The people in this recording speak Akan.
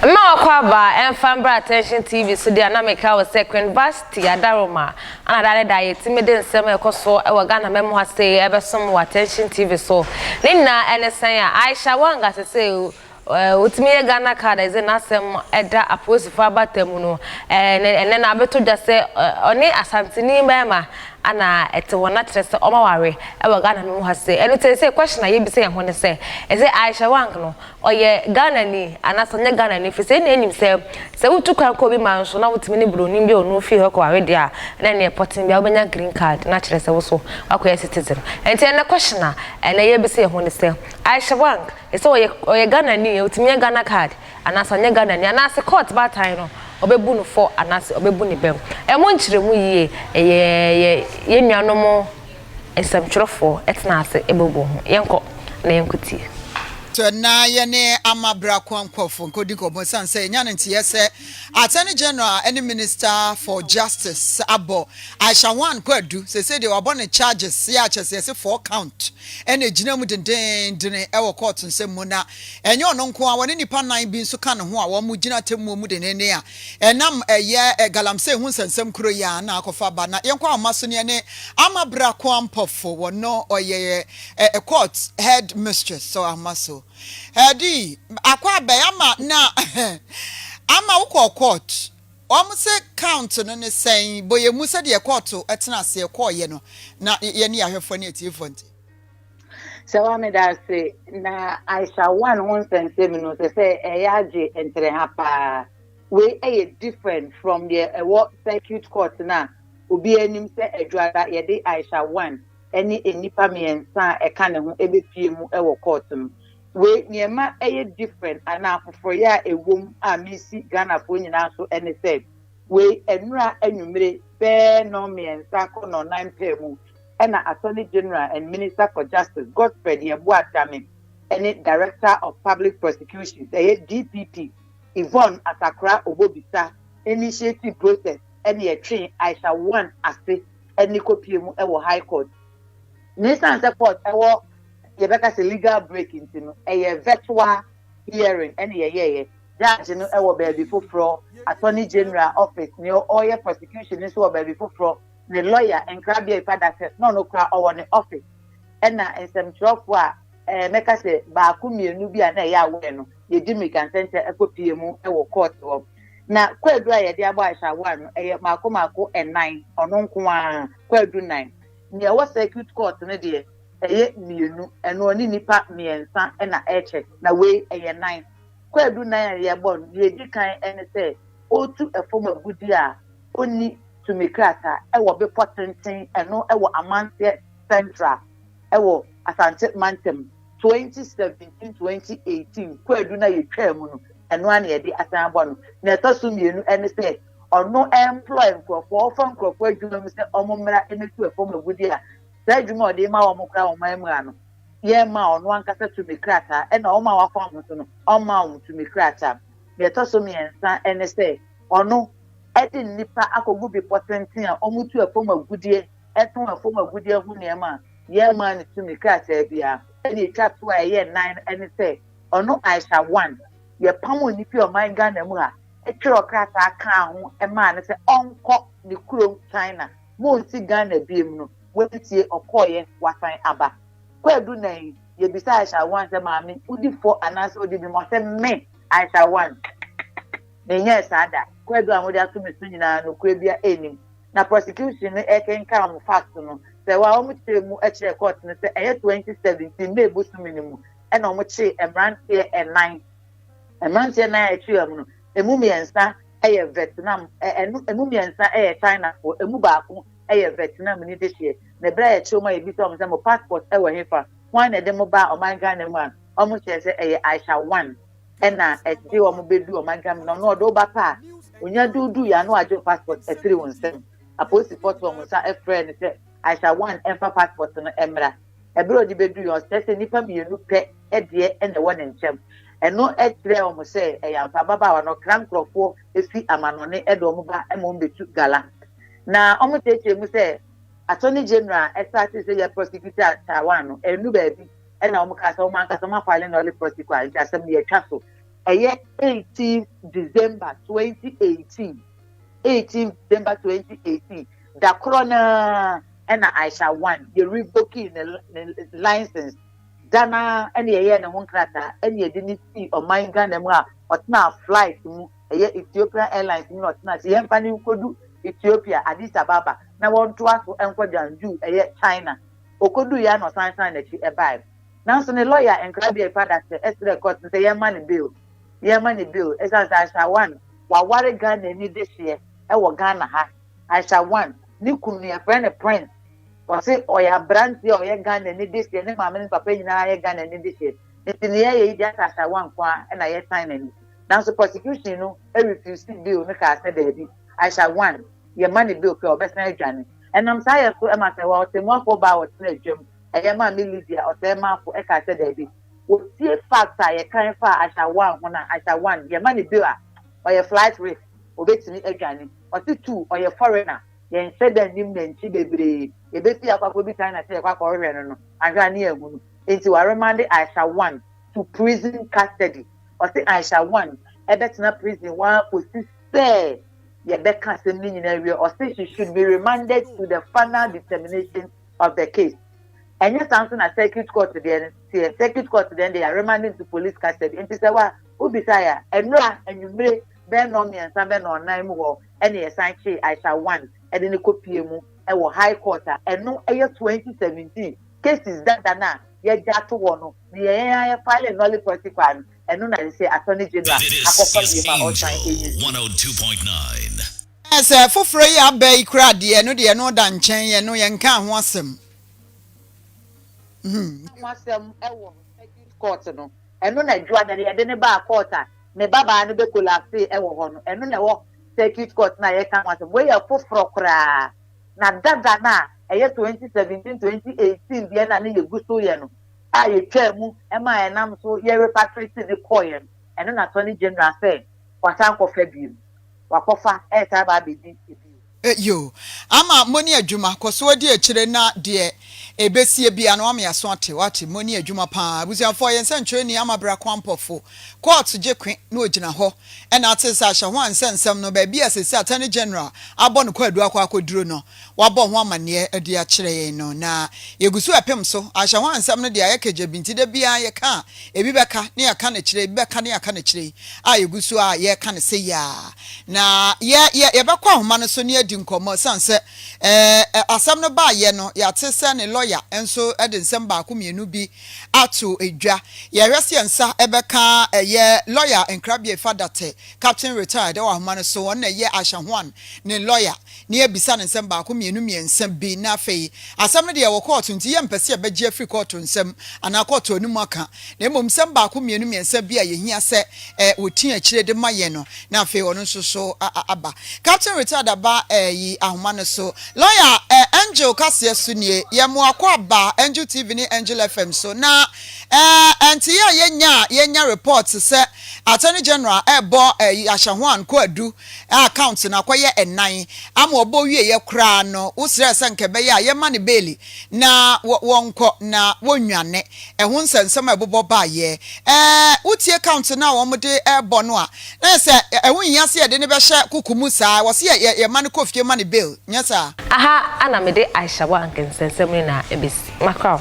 Mma wakɔ aba ɛmfa mbra attention tv so deɛ na meka wo sɛ Queen Vashti Adaroma ana da ne da yɛtumi de nsɛm a ɛkɔ so ɛwɔ Ghana mɛmu ha sei ɛbɛsom wɔ attention tv so ne nyinaa ɛne sɛn a Aisha Wanga sesei Otumi yɛ Ghana card a ɛdze n'asɛm da apolisifo abata mu no. Ɛnnɛ no, abɛtɔ dwa sɛ ɔne Asanteni barima na ɛte hɔ, na kyerɛ sɛ wɔaware wɔ Ghana no mu ha sɛ. Ɛno nti, ɛsɛ question a yebisa yɛn ho ne sɛ, ɛsɛ Aisha Wang no, ɔyɛ Ghanani anaasɛ ɔnyɛ Ghanani? Ɛfiri sɛ, yɛn nyinaa nim sɛ, sɛ wotu kwan kɔ obi man so na wotumi ne Buronin bi a ɔne wo fii hɔ kɔware deɛ a, na ɛnneɛ pɔtee biara wobɛnya green card, na kyerɛ sɛ wo nso woakɔyɛ citizen. Ɛnti ɛnnɛ question a ɛnnɛ yɛrebisa yɛn ho ne sɛ, Aisha Wang Sɛ ɔyɛ ɔyɛ Ghanani a, otumi nya Ghana card anaasɛ ɔnyɛ Ghanani anaasɛ court baatan no ɔbɛbu no fɔ anaasɛ ɔbɛbu ne bɛm. Ɛmo nkyerɛmu yie, ɛyɛ yɛ yɛn nuanom nsɛmtwerɛfoɔ tena ase bobɔ ho. Yɛnkɔ na yɛnkɔtie. Sɛ na yɛne amabra kwan kɔfoɔ nkɔdi nkɔmmɔ ɛsiane sɛ yɛnya no nteɛ sɛ Attorney General ne Minister for Justice abɔ Aisha Juan Kɔ adu, seesei deɛ wabɔ no charges, yɛ a kyerɛ sɛ yɛse four count. na egyina mu dendeenden wɔ kɔɔto nsɛm mu, na ɛnyɛ ɔno nko ara, ɔne nnipa nnan bi nso ka ne ho a wɔgyina atemmuo mu denneennen a ɛnam ɛyɛ galamsey ho nsɛnsɛm koro yi ara na akɔfa aba. Na yɛnkɔ ahoma so no, yɛne Ama Bra Kwampɔfo, wɔn no ɔyɛ yɛ court head mistress, sɔ ahoma so. Ɛde akɔ abɛn ama na ama wokɔɔ court. Wɔn se count no ne sɛn? Bɔ yɛn mu sɛdeɛ kɔɔto tena aseɛ kɔɔeɛ no na yɛne yɛn ahwɛfoɔ ne atiefoɔ nte. Sɛwa meda ase na Aisha one ho nsɛnsɛm no sɛ sɛ ɛyɛ agye ntereha paa wei ɛyɛ different from deɛ ɛwɔ circuit court no a obiara nim sɛ adwuada yɛde Aisha one ɛne nnipa mmiɛnsa a ɛka ne ho ɛbɛpie mu ɛwɔ court no Wei nea ɛma ɛyɛ different anaa foforɔyɛ a ɛwɔ mu a mesi Ghanafoɔ nyinaa so ne sɛ, wei nnora anwummere bɛɛ nnɔnmiɛnsa kɔ nnɔnnan pɛɛ mu na Attorney General and Minister for Justice Godfred Yeboah Dame ne Director of Public Prosecutions, ɛyɛ DPP, Yvonne Asakora Obobisa initiative process ne ɛtwee Aisha One ase ne kɔpie mu wɔ High Court. Na ɛsiane sɛ court wɔ. yɛbɛka sɛ legal break nti no, ɛyɛ virtual hearing ɛna yɛyɛeɛ. Judge no wɔ baabi foforɔ, Attorney General office, nea ɔyɛ prosecution no nso wɔ baabi foforɔ, ne lawyer, nkrabea Ifa Dakyɛ, na ɔno koraa ɔwɔ ne office. Ɛna nsɛmtwerɛfoɔ a eh, mɛka sɛ baako mmienu bi a na ɛyɛ aware no, yɛdi mmirika nsɛnkyɛ kɔpie mu wɔ court hɔ. Na kwaadu a yɛde abɔ Aisha Aware no, ɛyɛ mmaako mmaako nnan, ɔno nko ara, kwaadu nnan. Nea ɛwɔ circuit court no deɛ, Ɛyɛ mmienu, ɛno ɔne nnipa mmiɛnsa na ɛkyɛ, na wei ɛyɛ nan. Kwaadu nan a yɛbɔ no, deɛ ɛdi kan ne sɛ ɔretu fam agudeɛ a ɔnni tumi krataa wɔ bepɔ tenten, ɛno wɔ Amanteɛ Central wɔ Asante mantam, 2017, 2018 kwaadu no a yɛtwaa mu no, ɛno ara na yɛde asan abɔ no. Deɛ ɛtɔ so mmienu ne sɛ ɔno employ nkorɔfoɔ, ɔfa nkorɔfoɔ adwuma mu sɛ wɔmmra mmɛtu fam agudeɛ a. Saa adwuma a ɔde ma wɔn kora wɔn ammua no, yɛmmaa ɔno ankasa tumi krataa, ɛnna wɔn a wɔafa wɔn ho so no, ɔmmaa wɔn tumi krataa. Nea ɛtɔ so mmiɛnsa ne sɛ, ɔno de nnipa akɔgu bepɔ tenten a wɔtu fam agudeɛ, tɔn fam agudeɛ ho nneɛma a, yɛmmaa no tumi krataa biara. Nea ɛtwa to a ɛyɛ nnan ne sɛ, ɔno Aisha Wan, yɛpamoo no fii ɔman Ghana mu ha, twerɛɛ krataa kaa ho maa no sɛ ɔnkɔ ne kurom China. Monnte Ghana biom no, watie, ɔkɔeɛ, wasan aba. Kwaadu nna yi, yɛbisa Aisha One sɛ, Maame, wodi fɔ anaasɛ wodi bem? Ɔse, Me, Aisha One, menyɛɛ saa da. Kwaadu a mode ato me so nyinaa, nokorɛ biara nnim. Na prosecution no rekenkan wɔn facts no, sɛ wɔ a, wɔkyerɛɛ mu kyerɛɛ court no sɛ ɛyɛ 2017 May bosome no mu na wɔkyee mmeranteɛ nnan. Mmeranteɛ nnan a yɛkyee wɔn no, ɛmu mmiɛnsa, yɛ Vietnam, ɛno ɛmu mmiɛnsa yɛ Chinafoɔ, ɛmu baako yɛ Vietnamni de hyeɛ. Na ɛberɛ a yɛkyerɛɛ wɔn a yɛbisaa wɔn sɛ mo passport wɔ hefa, hwan na ɛde mo baa ɔman Ghana mu a, wɔn hyɛɛ sɛ ɛyɛ Aisha One ɛna ɛde wɔn bɛduu ɔman Ghana mu, na ɔno ɔde wo ba pɛ a, ɔnya de wo duuiɛ a na wagye wo passport afiri wo nsam. Apolisifoɔ too wɔn nsa frɛɛ no sɛ Aisha One mfa passport no mmra. Bere a ɔde bedui hɔ no, ɔsrɛe sɛ nnipa mmienu pɛ deɛ na ɛwɔ ne nkyɛn. Ɛno kyerɛɛ wɔn sɛ ɛyɛ ampa ababaawa no kra nkurɔfoɔ fi amanɔne de wɔn ba ma wɔbɛtu gala. Na wɔkyerɛkyerɛ mu sɛ Attorney General a ɛstartee sɛ yɛ prosecutor Taiwan no annu baabi na wɔkaa sɛ wɔn ankasa wɔafile null prosecu a nti asɛm no yɛatwa so. Ɛyɛ 18 December 2018, 18 December 2018. Da korɔ no ara na Aisha One yɛ revokii ne ne license, da no ara na yɛyɛɛ ne ho nkrataa na yɛde no sii ɔman Ghana mu a ɔtenaa flight mu, ɛyɛ Ethiopian Airlines mu na ɔtenaa sɛ yɛmfa no nkɔdu Ethiopia, Addis Ababa na wɔntoa so nkɔ Jiangsu, ɛyɛ China. Ɔkɔduiɛ ara na ɔsan san n'akyi baeɛ. Nanso ne lɔya Nkrabea Ipadase srɛɛ court no sɛ yɛmma no bail, yɛmma no bail ɛsiane sɛ Aisha One waware Ghanani dehyeɛ wɔ Ghana ha. Aisha Wan, ne kunu no yɛfrɛ no Prince, ɔse ɔyɛ abranteɛ a ɔyɛ Ghana ni dehyeɛ, ne maame ne ne papa nyinaa yɛ Ghana ni dehyeɛ, nti nea yɛyɛ yi deɛ asɛ Aisha Wan nko ara na yɛsan n'ani. Nanso prosecution no refuse bail no kaa sɛ daabi, Aisha Wan, yɛma no bail pɛ a ɔbɛsan adwane. Ɛnam saa yɛ so ma sɛ wɔ ɔtɛmmuafoɔ baa a ɔtena adwam, ɛyɛ Maame Lydia Ɔsɛɛ Maafo kaa sɛ daabi, wɔtie facts a yɛkan faa Aisha Wan ho na Aisha Wan, yɛma no bail a, ɔyɛ flight risk, ɔbɛtumi adwane. Ɔse tu ɔyɛ foreigner yɛnhyɛ da nnim nantwi bebree yɛbɛfie akɔ akɔ bi China sɛ yɛkɔ akɔ hwehwɛ no no ahwɛ a ne yɛanhunu enti wa remande Aisha one to prison custody ɔse Aisha one ɛbɛtena prison hɔ ara kɔsi sɛ yɛbɛka asɛm no nyinaa awie ɔse she should be remanded to the final determination of the case ɛnyɛ saa nso na circuit court deɛ no teɛ circuit court deɛ no deɛ yɛaremande no to police custody enti sɛ wa wobisa yɛ a ɛnora anwummere bɛyɛ nnɔnmiɛnsa bɛyɛ nnɔnnan mu hɔ na yɛsan kyee Aisha Wan de no kɔpuee mu wɔ High Court a ɛno yɛ twenty seventeen cases dada no a yɛagya ato hɔ no na yɛn ara yɛ file nulli prosi paa no, ɛno na ɛsɛ sɛ Attorney General akɔfa bio ma ɔsan ɛyi so. Ɛɛ sɛ foforɔ yi a aba yi koraa deɛ ɛno deɛ ɛno da nkyɛn ɛno yɛnkaa ho asɛm. Yɛnkaa ho asɛm wɔ Magistrates Court no Ɛno na Adwuada no yɛde no baa court a me babaa no bɛ collapsee ɛwɔ hɔ no, ɛno na ɛwɔ circuit court no a yɛreka ho asɛm. Wei yɛ foforɔ koraa. Na dada no a ɛyɛ twenty seventeen, twenty eighteen deɛ no a na yɛgu so yɛ no a yɛtwaa mu maa ɛnam so yɛ repatriate no kɔeɛ no, ɛno na Attorney General sɛ wasan akɔfa bio. Wakɔfa ɛresan aba abɛdi bio. Eyo, ama moni adwuma, kɔsoɔ di akyire na deɛ ɛbɛsie biara no wame aso ate, wate, moni adwuma paa abusuafoɔ, yɛn sɛnkyerɛni ama bra kwampɔfo, court gye kwe na ɔgyina hɔ ɛna ate sɛ ahyɛ ho ansɛ nsɛm no baabi a sɛsi attorney general abɔ no kwaadu akɔ akɔduru no wabɔ ho amaneɛ de akyerɛ yɛn no na yɛguso ɛpem so, ahyɛ ho ansɛm no deɛ ayɛ kagyabi nti da biara yɛka a Ebi bɛka ne yɛka no akyire yi, ebi bɛka ne yɛka no akyire yi, a yɛgu so ara a yɛreka no sɛ yea. Na yɛ, yɛ, yɛbɛkɔ ahoma no so na yɛadi nkɔmmɔ, ɛsiane sɛ ɛɛ, asɛm no baeɛ no, yɛate sɛ ne lɔya nso de nsɛm baako mmienu bi ato dwa. Yɛhwɛ sɛ yɛn nsa bɛka ɛyɛ lɔya nkrabea Efa Datte, Captain Retired, wɔ ahoma no so, wɔn na ɛyɛ Aisha Huang ne lɔya. na yɛabisa no nsɛm baako, mmienu, mmiɛnsa bi, na afei asɛm no de yɛwɔ kɔɔto, nti yɛmpɛ sɛ yɛbɛgye afiri kɔɔto nsɛm anaa kɔɔto no mu aka, na mmom nsɛm baako, mmienu, mmiɛnsa bi a yɛhia sɛ wɔti akyire de ma yɛn no, na afei ɔno nso so aba. Captain Retired Aba ayi ahoma no so. Lɔya Angel kaseɛ so nie, yɛn mmoakɔ aba Angel TV ne Angel FM so, na nteeɛ a yɛnya a yɛnya report sɛ Attorney General rebɔ Ahyɛhoan Kwaadu a counts no akɔyɛ nnan ama ɔbɔ wieeɛ koraa no, wosrɛɛ sɛ anka ɛbɛyɛ a yɛmma no beeli na wɔnkɔ na wɔnnwane. Ɛho nsɛnsɛm a ɛbobɔ baeɛ. Ɛɛ, wotie counts no a wɔde rebɔ no a, na ayɛ sɛ ɛho nhia sɛ yɛde no bɛhyɛ koko mu saa, ɛwɔ sɛ yɛma no kɔ fie ma no bail, nyɛ saa? Aha na mede Aisha Wank nsɛnsɛm no nyinaa bɛsi. Macron.